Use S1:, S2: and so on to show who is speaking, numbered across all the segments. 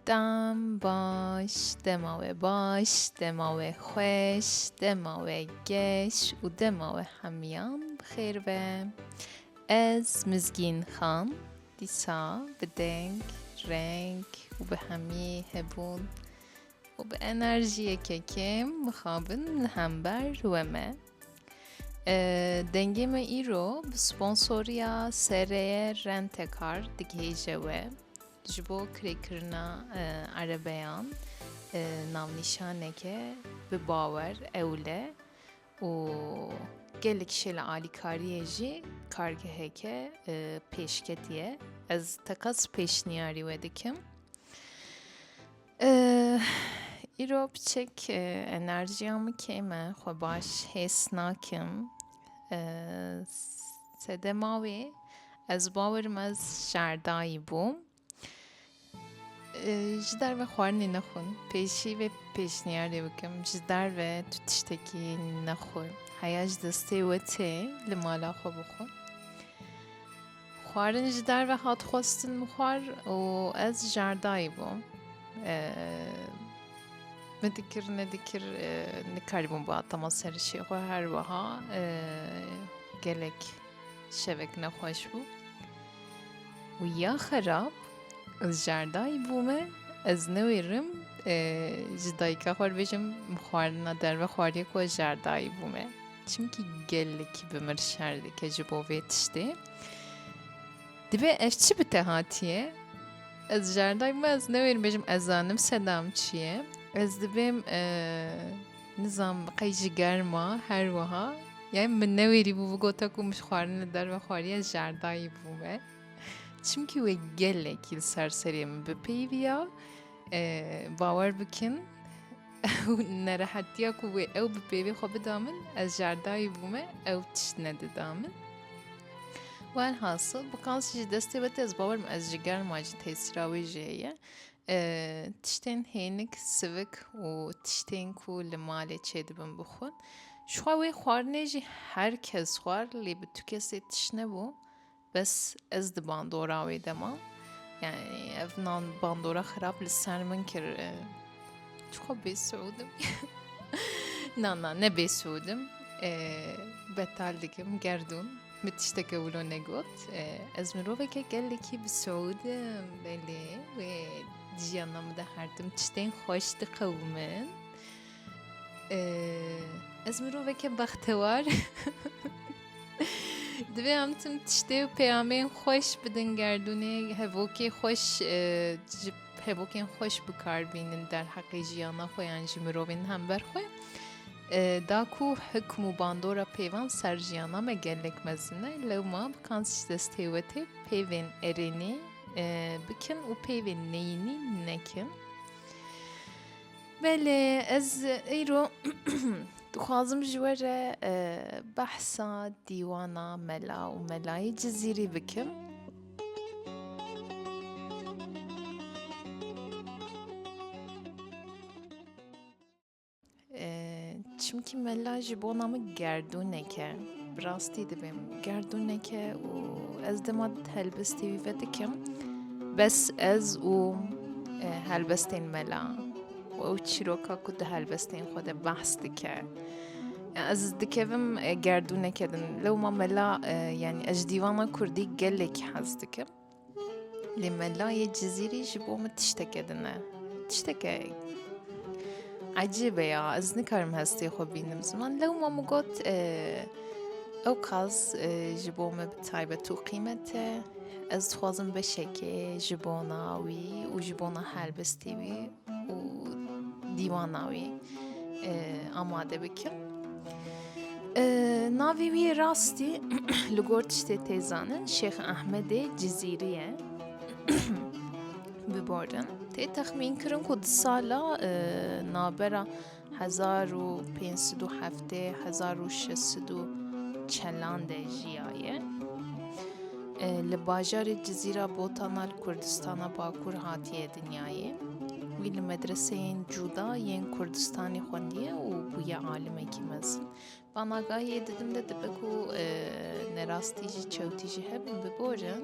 S1: Dem baş, dema we baş, dema we xweş, dema we geş û dema we hemiyan bi xêr be. Ez Mizgîn Xan dîsa bi deng, reng û bi hemî hebûn û bi enerjiyeke kêm mixabin li hember we me. Dengê me îro bi sponsoriya sereye Rentekar digihêje we ji bo kirêkirina erebeyan navnîşaneke bi bawer ewil e û gelek şêla alîkariyê jî kargeheke pêşketî ye. Ez teqez pêşniyarî we dikim. Îro piçik enerjiya min kêm e, xwe baş hês nakim. Sedema wê ez bawer im ez şerdayî bûm. Ji derve xwarinê nexwin. Pêşî vê pêşniyarê bikim. Ji derve tu tiştekî nexwe. Heya ji destê we tê li mala xwe bixwe. Xwarin ji derve hat xwestin mixwar û ez jardayî bûm. Min dikir nedikir nikarîbûm bi atema serişê xwe her wiha gelek şevek nexweş bû. û ya xerab ez jardayî bûme ez newêrim ji dayika xwe bêjim xwarina derve xwariyê ku ez jardayî bûme. Çimkî gelekî bi mir şer dike ji bo vê tiştê. Divê ev çi bi te hatiye? Ez jardayê me ez newêrim bêjim ez zanim sedam çi ye. Ez dibêm e, nizam qey ji germa her wiha. Yani min newêrî bû bi gota ku min ji xwarin li derve xwariye jardayî bû me. Çimkî wê gelekî li ser serê min bipeyviya. E, bawer bikin Ew nerehetiya ku wê ew bi pêvê xwe bida min, ez jerdayî bûme ew tişt nedida min. Welhasil bi qasî ji destê ve tê ez bawer me ez ji germa jî tesîra wê jî heye. Tiştên hênik sivik û tiştên ku li malê çêdibin bixwin. Jixwe wê xwarinê jî her kes xwar lê bi tu kesê tişt nebû. Bes ez di bandora wê de ma. Yani ev nan bandora xirab li ser min kir. Çixwe bê Suudim. na na ne bê Suudim. Betal dikim gerdûn. Min tişteke wilo negot. Ez miroveke gelekî bi Suudim. Belê wê jiyana min de her tim tiştên xweş diqewimin. Ez miroveke bextewar divê em tim tiştê û peyamên xweş bidin gerdûnê hevokê xweş ji hevokên xweş bikar bînin derheqê jiyana xwe yan ji mirovên hember xwe da ku hikm û bandora pêvan ser jiyana me gelek mezin e lewma bi kan destê wetê pêvên erênê bikin û pêvên neyînî nekin. Belê ez îro dixwazim ji we re behsa dîwana mela û melayî cizîrî bikim. Çimkî mela ji bona min gerdûneke. Bi rastî dibim gerdûneke û ez dima helbistî wî vedikim. Bes ez û e, helbestên mela û ew çîroka ku di helbestên xwe de behs dike. Ez dikevim e, gerdûneke din. Lewma mela e, yanî ez ji dîwana Kurdî gelekî hez dikim. Lê melayê cizîrî ji bo min tişteke din e. Tişteke ecîbe ya ez nikarim hestê xwe bînim ziman lewma min got ew qaz ji bo me bi taybet û qîmet e ez dixwazim beşekê ji bona wî û ji bona helbestê wî û dîwana wî amade bikin. Navê wî rastî li gor tiştê tê zanin Şêx Ehmedê Cizîrî ye. Biborin. Tê texmînkirin ku di sala navbera hezar û pênc sed û heftê hezar û şeş sed û çelan de jiyaye. Li bajarê Cizîra Botana li Kurdistana Bakur hatiye dinyayê. Wî li medreseyên cuda yên Kurdistanê xwendiye û bûye alimekî mezin. Amagahiyê didim de dibe ku nerastî jî çewtî jî hebin biborin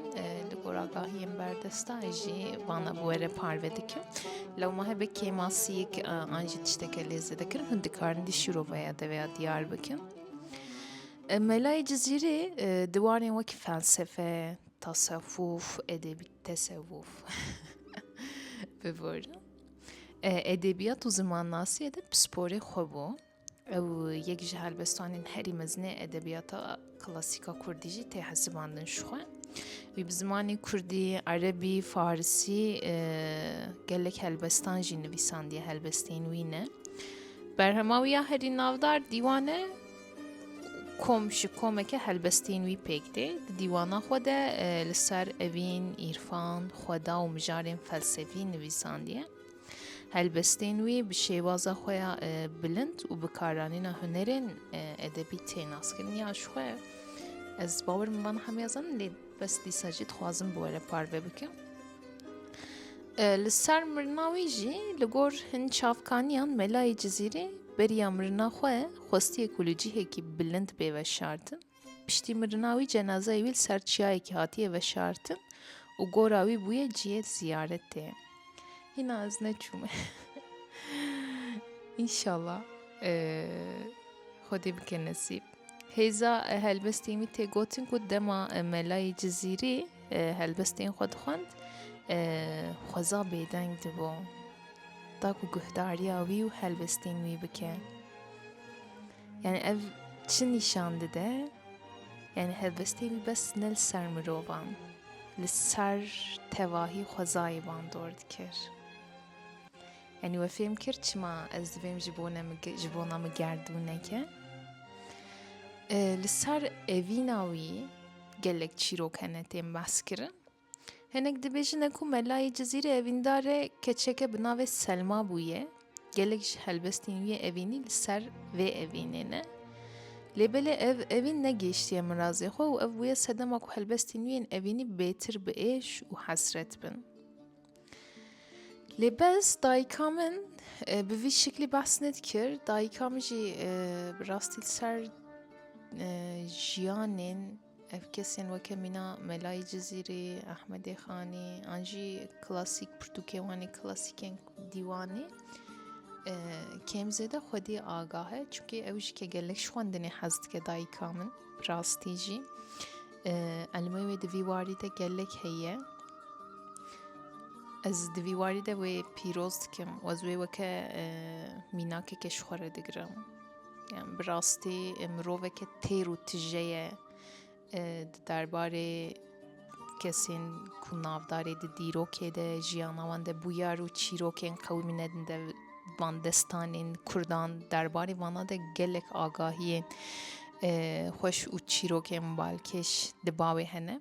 S1: li gor agahiyên berdestayê jî vana bi were parve dikim lewma hebe kêmasiyek an jî tişteke lê zêdekirin hûn dikarin dî şîroveya deveya diyar bikin Melayê Cizîrê diwarên wekî felsefe, tasewuf, edebî tesewuf biborin. Edebiyat û zimannasiyê de pisporê xwe bû. Ew yek ji helbestanên herî mezinê edebiyata klasîka Kurdî jî tê hesibandin ji xwe. Wî bi zimanê Kurdî, Erebî, Farisî e, gelek helbestan jî nivîsandiye helbestên wî ne. Berhema wî ya herî navdar dîwane kom ji komeke helbestên wî pêk tê. Di dîwana xwe de e, li ser evîn, îrfan, xweda û mijarên felsefî nivîsandiye. Helbestên wî bi şêwaza xwe ya bilind û bi karanîna hunerên edebî tê naskirin ya ji xwe ez bawer min van hemiya zan lê bes dîsa jî dixwazim bi were parve bikim. Li ser mirina wî jî li gor hin çavkaniyan melayê cizîrê beriya mirina xwe xwestiye ku li cihekî bilind bê veşartin. Piştî mirina wî cenazeyê wî li ser çiyayekî hatiye veşartin û gora wî bûye cihê ziyaretê. Hîna ez neçûme. İnşallah e, Xwedê bike nesîb. Hêza e, helbestên wî tê gotin ku dema e, melayê Cizîrî e, helbestên xwe dixwend e, xweza bêdeng dibû. Taku guhdariya wî û helbestên wî bike. Yani ev çi nîşan dide? Yani helbestê wî bes ne li ser mirovan, li ser tevahî xwezayê wan dor dikir. Yani we fêm kir çima ez divêm ji bo ji bona min gerdûneke. Li ser evîna wî gelek çîrok hene tên behs kirin. Hinek dibêjine ku melayê Cizîrê evîndar e keçeke bi navê Selma bûye. Gelek ji helbestên wî evînî li ser vê evînê ne. Lê belê ev evîn negêştiye mirazê xwe û ev bûye sedema ku helbestên wî yên evînî bêtir bi êş û hesret bin. Lê bez dayika min e, bi vî şiklî behs nedikir dayika min jî e, bi rastî ser e, jiyanên Ev kesên weke mîna Melayê Cizîrê, Ehmedê Xanê an jî klasîk pirtûkê wan ê klasîkên dîwanê e, kêmzêde xwedî agah e çunkî ew jî ke gelek ji xwendinê hez dike dayika min rastî jî e, elmê wê di vî warî de gelek heye ez di vî warî de wê pîroz dikim wez wê weke e, mînakeke ji xwe re digirim Bi rastî miroveke têr û tije ye di derbarê kesên ku navdarê di dîrokê de jiyana wan de bûyar û çîrokên qewimî nedin de van destanên kurdan derbarê vana de gelek agahiyên xweş û çîrokên balkêş di bawê hene.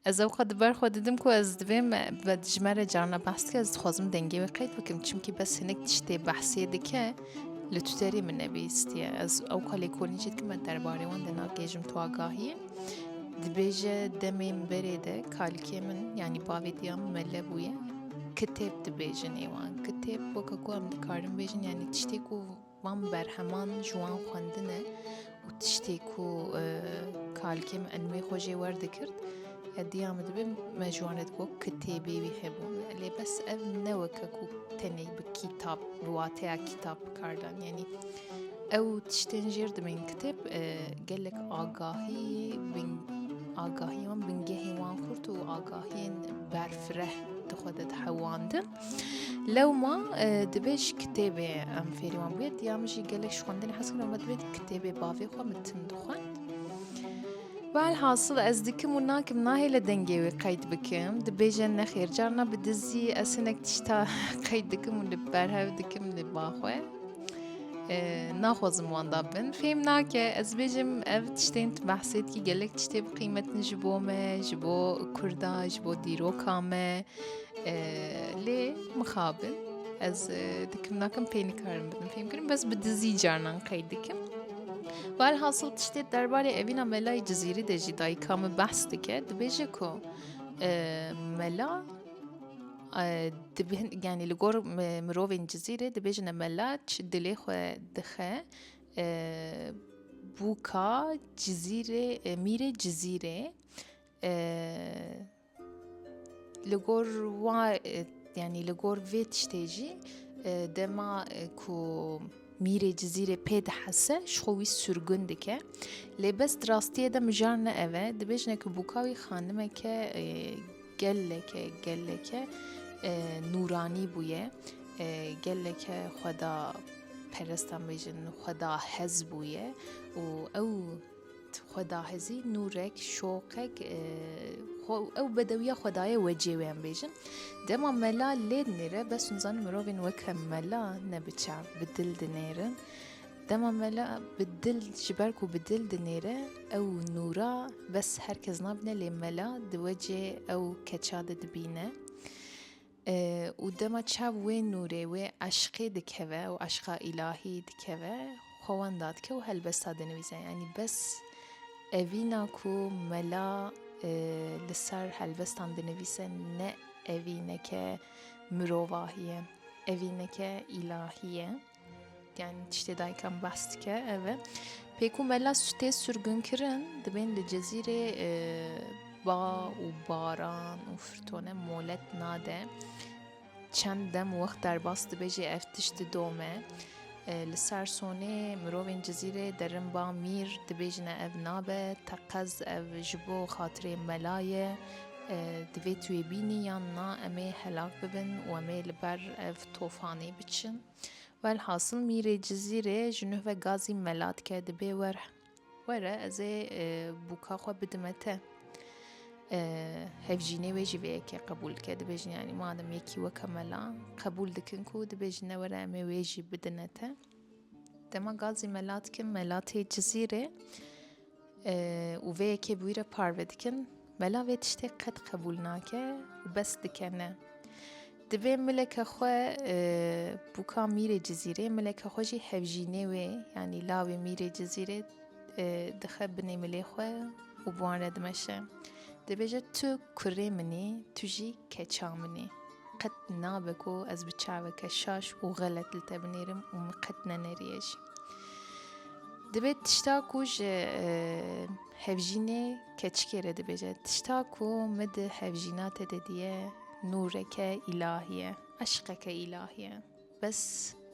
S1: Ez ew xwe di ber xwe didim ku ez divêm ve ji me re carna behs dike ez dixwazim dengê wê qeyt bikim çimkî bes hinek tiştê behsê dike li tuterê min nebîstiye ez ew xwe lêkolîn jî dikim me derbarê wan de nagêjim tu agahiyê dibêje demê min berê de kalikê min yanî bavê diya min mele bûye kitêb dibêjin êwan kitêb weke ku em dikarin bêjin yanî tiştê ku Van berheman ji wan xwendine û tiştê ku kalkê min enûyê xwe jê wer dikirt, hediya min dibe me ji wan re digo kitêbê wî hebû. Lê bes ev ne weke ku tenê bi kîtab bi wateya kîtab bikardan yanî ew tiştên jêr dibên kitêb gelek agahî bin agahî wan bingehê wan xurt û agahiyên berfireh di xwe de dihewandin. Lewma divê ji kitêbê em fêrî wan bûyê diya min jî gelek ji xwendinê hez kirin me divê kitêbê bavê xwe min tim dixwend Velhasil ez dikim û nakim nahê li dengê wê qeyd bikim dibêje nexêr carna bi dizî ez hinek tişta qeyd dikim û li berhev dikim li baxwe naxwazim wanda bin fêm nake ez bêjim ev tiştên tu behsêtkî gelek tiştê bi qîmetin ji bo me ji bo kurda ji bo dîroka me lê mixabin ez dikim nakim pê nikarim bidim fêm kirim bes bi dizî carnan qey dikim Val hasıl tiştê derbarê evîna melayî cizîrî de jî dayika min behs dike dibêje ku mela yani li gor mirovên cizîrê dibêjine mela çi dilê xwe dixe bûka cizîrê mîrê cizîrê Li gor wa yanî li gor vê tiştê jî dema ku mîrê cizîrê pê dihese ji xwe wî surgun dike lê bes di rastiyê de mijar ne ev e dibêjne ku bûka wî xanimeke geleke geleke nûranî bûye geleke xweda perest an bêjin xweda hez bûye û ew Xwedahezî, nûrek, şoqek, xwe ew bedewiya xwedayê wecê wê em bêjin. Dema mela lê dinêre bes hûn zanin mirovên weke mela ne bi çav bi dil dinêrin. Dema mela bi dil ji ber ku bi dil dinêre ew nûra bes her kes nabîne lê mela di wecê ew keça de dibîne. Û dema çav wê nûrê, wê eşqê dikeve û eşqa îlahî dikeve, xwe wenda dike û helbesta dinivîse. Yanî bes evîna ku mela li ser helbestan dinivîse ne evîneke mirovahî ye, evîneke îlahî ye. Yani tiştê daykan behs dike ev e. Pê ku mela tê sürgünkirin dibên li cezîrê e, ba û baran û firtone molet nade. Çend dem wext derbas dibe jê ev tişt didome. E, li ser sonê mirovên cezîrê derin ba mîr dibêjine ev nabe teqez ev ji bo xatirê mela ye. E, divê tu yê bînî yan na em ê helak bibin û em ê li ber ev Tofanê biçin. Welhasil mîrê Cizîrê ji nuh ve gazî mela dike dibê were. Were ez ê e, bûka xwe bidime te. E, hevjînê wê jî vê yekê qebûl dike dibêjin yanî madem yekî weke mela qebûl dikin ku dibêjin ne were em ê wê jî bidine te. Dema gazî mela dikin mela tê Cizîrê Û vê yekê bi wî re parve dikin. Mela vê tiştê qet qebûl nake û bes dike ne. Divê mileke xwe bûka mîrê cizîrê mileke xwe jî hevjînê wê yanî lawê mîrê cizîrê dixe binê milê xwe û bi wan re dimeşe. Dibêje tu kurê min î, tu jî keça min î. Qet nabe ku ez bi çaveke şaş û xelet li te binêrim û min qet nenerîye jî. Dibê tişta ku ji hevjînê keçikê re dibêje tişta ku min di hevjîna te de diye nûreke îlahî ye, eşqeke îlahî ye. Bes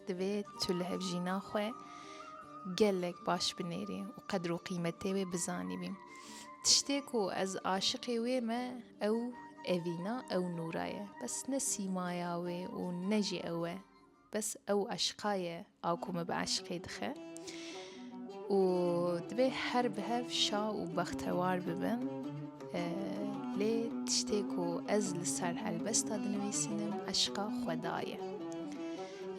S1: divê tu li hevjîna xwe gelek baş binêrî û qedr û qîmetê wê bizanî bî. Tiştê ku ez aşiqê wê me ew evîna ew nûra ye. Bes ne sîmaya wê û ne jî ew e. Bes ew eşqa ye a ku me bi eşqê dixe û divê her bi hev şa û bextewar bibim. Lê tiştê ku ez li ser helbesta dinivîsinim eşqa xweda ye.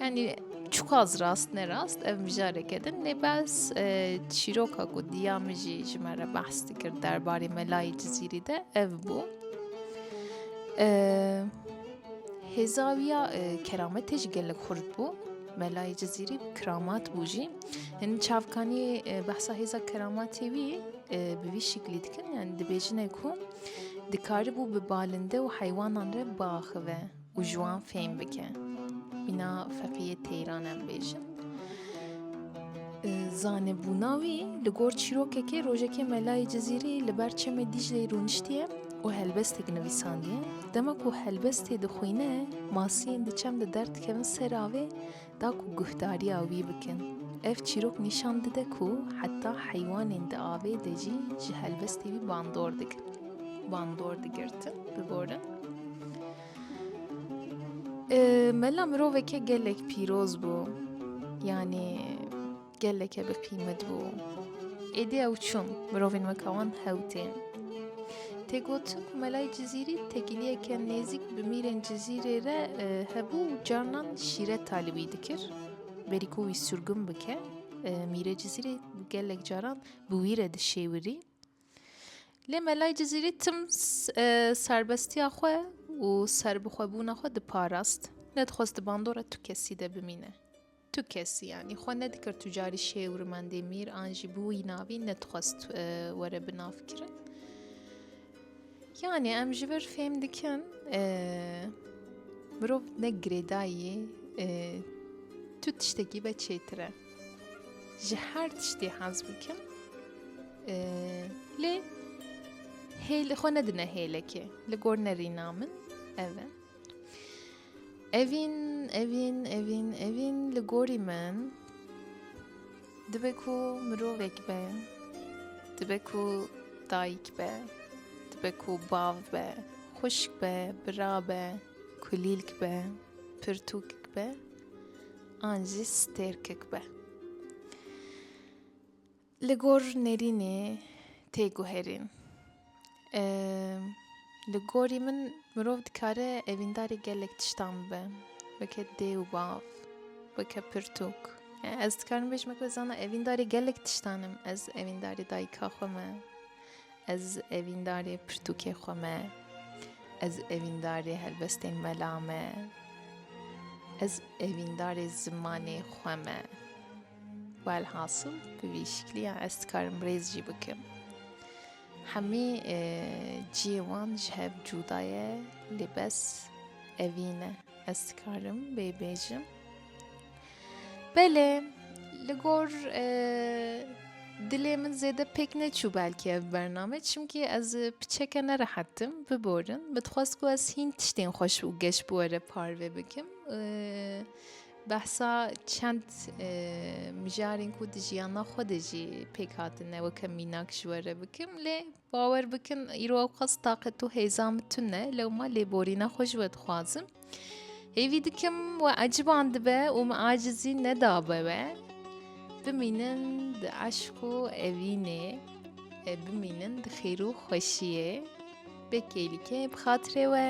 S1: Yani çuqaz rast ne rast ev mijareke din lê bes çîroka ku diya min jî ji me re behs dikir derbarê melayê cizîrî de ev bû. Hêza wî ya kerametê jî gelek xurt bû. Melayê Cizîrî kiramat bû jî. Hin çavkanî behsa hêza keramatê wî bi vî şiklî dikin yani dibêjine ku dikaribû bi balinde û heywanan re biaxive û ji wan fêm bike. Îna feqîyê teyran em bêjin. Zanebûna wî li gor çîrokekê rojekê melayê Cizîrî li ber çemê Dîcleyê rûniştiye û helbestek nivîsandiye. Dema ku helbestê dixwîne, masiyên di çem de derdikevin ser avê da ku guhdariya wî bikin. Ev çîrok nîşan dide ku heta heywanên di avê de jî ji helbestê wî bandor dikin. Bandor digirtin, bigorin. Mela miroveke gelek pîroz bû yanî geleke bi qîmet bû. Êdî ew çûn mirovên weka wan hew tên. Tê gotin ku melayê Cizîrî tekîliyeke nêzîk bi mîrên Cizîrê re hebû û carnan şîret talî wî dikir. Berî ku wî surgun bike mîrê Cizîrê gelek caran bi wî re dişêwirî. Lê Melay Cizîrî tim serbestiya xwe û serbixwebûna xwe diparast. Nedixwest di bandora tu kesî de bimîne. Tu kesî yanî xwe nedikir tu carî şêw rimendê mîr an jî bi wî navî nedixwest were binavkirin. Yani em ji vir fêm dikin mirov ne girêdayî tu tiştekî be çêtir e. Ji her tiştê hez bikin lê hêl xwe nedine hêlekê li gor nerîna min ev e. Evîn, evîn, evîn, evîn li gorî min dibe ku mirovek be, dibe ku dayik be, dibe ku bav be, xuşk be, bira be, kulîlk be, pirtûkik be an jî stêrkik be. Li gor Nêrînê tê guherîn. Li gorî min mirov dikare evîndarê gelek tiştan bibe. Weke dê û bav, weke pirtûk. Yani ez dikarim bêjim weke zana evîndarê gelek tiştan im. Ez evîndarê dayika xwe me. Ez evîndarê pirtûkê xwe me. Ez evîndarê helbestên mela me. Ez evîndarê zimanê xwe me. Welhasil bi vî şikliya ez dikarim rêz jî bikim. Hemî e, ciyê wan ji hev cûda ye lê bes evî ne. Ez dikarim bê bêjim. Belê li gor e, dilê min zêde pêk neçû belkî ev bername çimkî ez piçeke nerehetim biborin min dixwest ku ez hîn tiştên xweş û geş bi were parve bikim. E, Behsa çend mijarên ku di jiyana xwe de jî pêk hatine weke mînak ji we re bikim lê bawer bikin îro ew qas taqet û hêza min tune lewma lêborîna xwe ji we dixwazim. Hêvî dikim we eciban dibe û min acizî nedabe we bimînin di eşq û evînê e, bimînin di xêr û xweşiyê bê kêlîkê bi xatirê we.